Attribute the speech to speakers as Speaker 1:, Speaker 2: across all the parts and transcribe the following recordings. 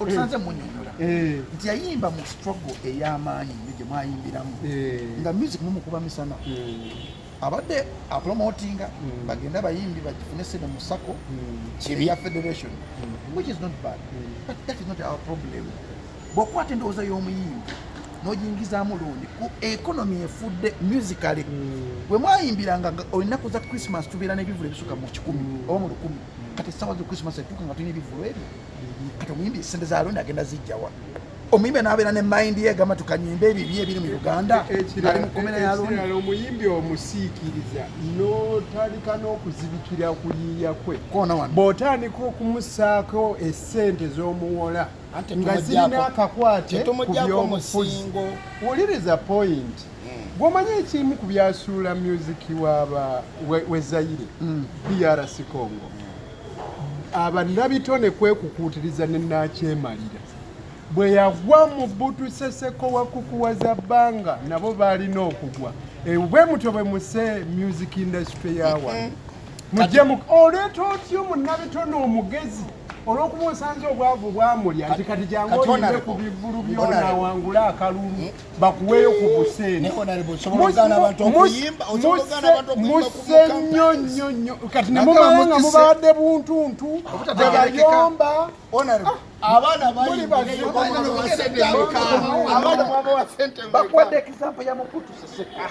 Speaker 1: otusanze munyonyola
Speaker 2: eh. nti yayimba mu struggle ey'amaanyi nyo gye mwayimbiramu eh. nga music mumukuba misana hmm. abadde apromotinga hmm. bagenda bayimbi bagifune sene mu sako hmm. eya federation which is not bad but that is not our problem bwokwata endowooza y'omuyimbi nojingizaamu lundi ku economy efudde musically mm. bwe mwayimbiranga olunaku za christmas tubeera n'ebivulu ebisuka mu kikumi mm. oba mu lukumi mm. kati esawa za christmas etuuka nga tulina ebivulu ebyo kati omuyimbi esente za lundi agenda zijjawa omuyimbi anabeera ne mind ye gamba tukanyimba ebibi ebiri mu uganda e, e, ali mukomera yalona omuyimbi
Speaker 3: omusiikiriza notandika n'okuzibikira kuyiiya kwe bw'otandika okumusaako esente z'omuwola nga zirina akakwate ku by'obufuzi wuliriza point hmm. gwomanyi ekimu ku byasuula myuziki waba we zaire hmm. drc congo hmm. abanabitone kwekukuutiriza ne nakyemalira bwe yagwa mu butuseseko wakukuwaza bbanga nabo baalina okugwa eh, bwe mutyo bwe muse music industry yawa mujje oleeta otyo munabitone omugezi olwokuba osanze obwavu bwamulya nti kati jangu oyimbe ku bivulu byonawangula akalulu hmm? bakuweeyo ku buseenimusse nnyo nnyo nnyo kati nemumala nga mubadde buntuntu tebayomba abaana
Speaker 1: bayibazibakwedde
Speaker 2: example yamukutuseseka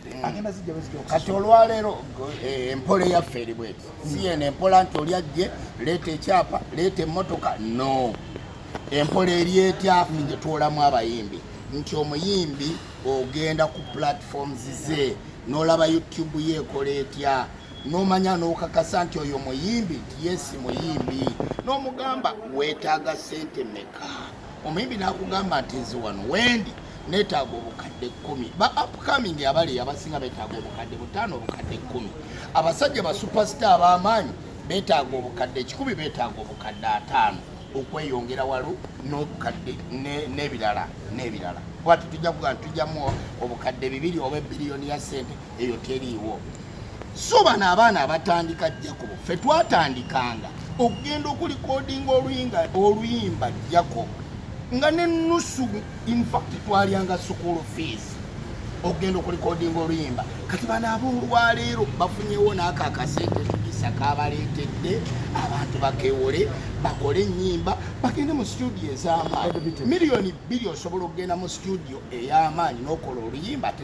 Speaker 2: kati olwaleero
Speaker 1: eh, empola eyaffe eri bweti si yeno empola nti oli ajje leeta ekyapa leeta emmotoka no empola eri etyafu gye twolamu abayimbi nti omuyimbi ogenda ku platforms ze n'olaba youtube ye ekola etya n'omanya n'okakasa nti oyo muyimbi nti yesi muyimbi n'omugamba weetaaga sente meka omuyimbi n'akugamba nti nze wano wendi neetaaga obukadde kkumi ba upcoming abali abasinga beetaaga obukadde butaano obukadde kkumi abasajja ba superstar ab'amaanyi beetaaga obukadde ekikumi beetaaga obukadde ataano okweyongera walo n'obukadde n'ebirala n'ebirala bwati tujja kuga tujamu obukadde bibiri oba ebiriyoni ya sente eyo teriiwo so bano abaana abatandika jacob fe twatandikanga okugenda okulikodinga oluyinga oluyimba jacob nga nenusu infact twalyanga school fees okugenda okulikodinga oluyimba kati bano aboolwaleero bafunyewo naako akasente kisa kabaleetedde abantu bakewole bakole enyimba bagende mu studio ez'amaanyi miliyoni bbiri osobola okugenda mu studio ey'amaanyi n'okola oluyimba ate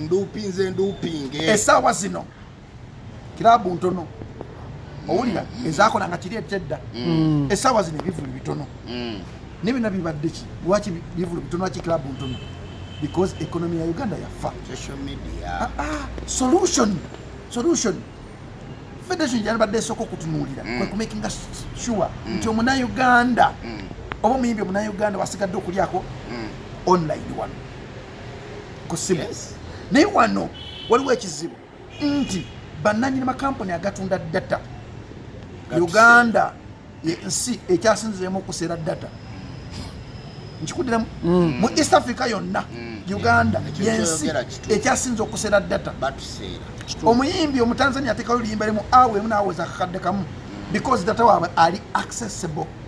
Speaker 2: nduupinze nduupinge
Speaker 1: esaawa zino
Speaker 2: kiraabu ntono owulira mm. ezakola nga kiri ekyedda mm. esaawa zino ebivulu bitono mm. ne byona bibadde ki lwaki bivulu bitono lwaki kiraabu ntono because economy ya uganda yafa ah, ah,
Speaker 1: solution
Speaker 2: solution federation gyalibadde esooka okutunuulira kwekumakinga sure nti omunauganda oba omuyimbi omunauganda wasigadde okulyako online wano ku simu naye wano waliwo ekizibu nti bananyini makampuni agatunda data uganda yensi ekyasinziremu okuseera data nkikudiramu mm. mu east africa yonna mm. uganda yensi ekyasinze okuseera data omuyimbi omutanzania atekayo luyimba limu awo emu nawoza akakadde kamu mm. because data waabwe ali accessible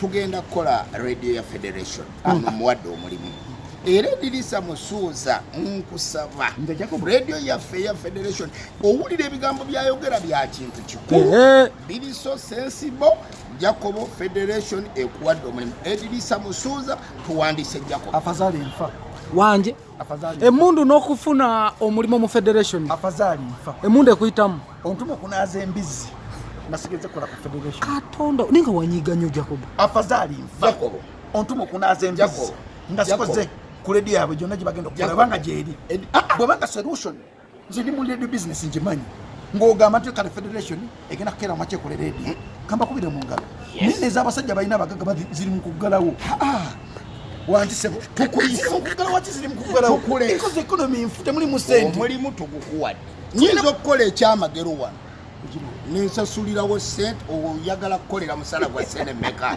Speaker 1: tugenda kukola radio ya federation ono mm. muwadde omulimu era edirisa musuuza nkusaba radio yaffe eya federation owulira ebigambo byayogera bya kintu kikulu biri so sensible jacobo federation ekuwadde omulimu edirisa musuuza tuwandise jacobo afazali nfa
Speaker 2: wanje
Speaker 4: emundu nokufuna omulimu mu federation emundu
Speaker 2: ekuyitamu
Speaker 4: ontuma okunaaza
Speaker 2: embizzi nasigeze kola ku federation katonda ninga
Speaker 4: wanyiga nyo jacobo afazali nfa
Speaker 2: jacobo ontuma
Speaker 1: okunaaza
Speaker 2: embizzi nga sikoze ku ledi yaabwe gyonna gye bagenda okukola banga gyeri bwebanga solution nze ndi mu radio business ngimanyi ng'ogamba nti kale federation egenda kukeera maki ekole radio hmm? kamba kubire mu ngalo naye nez'abasajja balina abagaga ziri mu kuggalawo wantisebo tukuyisaokugalawakizirimukugalawkoze ekonomi nfu temuli musente omulimu tugukuwadde
Speaker 1: nyinza okukola ekyamagero wano ninsasulirawo sente oyagala kukolera musala gwa sente meka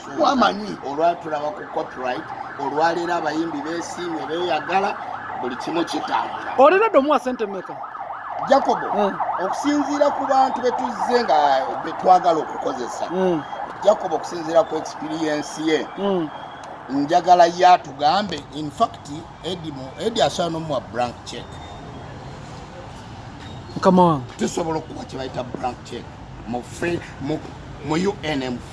Speaker 1: twamanyi olwatulaba
Speaker 2: ku
Speaker 1: copyright olwaleero abayimbi besiimye beyagala buli kimu kitambula olina dde omuwa sente
Speaker 4: meka jacobo hmm.
Speaker 1: okusinziira ku bantu betuzze nga betwagala okukozesa hmm. jacobo okusinziira ku experiensi ye hmm. njagala ye atugambe infact edi asobola nomuwa brank check
Speaker 4: tusobola okukuba kyebayita
Speaker 1: brank check mu un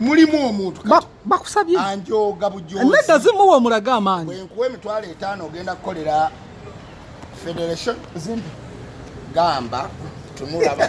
Speaker 2: mulimu
Speaker 1: omuntu bakusabye
Speaker 4: anjoga bujozi
Speaker 1: nedda zimuwa omulaga
Speaker 4: amaanyi bwenkuwa emitwalo etaano
Speaker 1: ogenda kukolera federation zimbi gamba tunulaba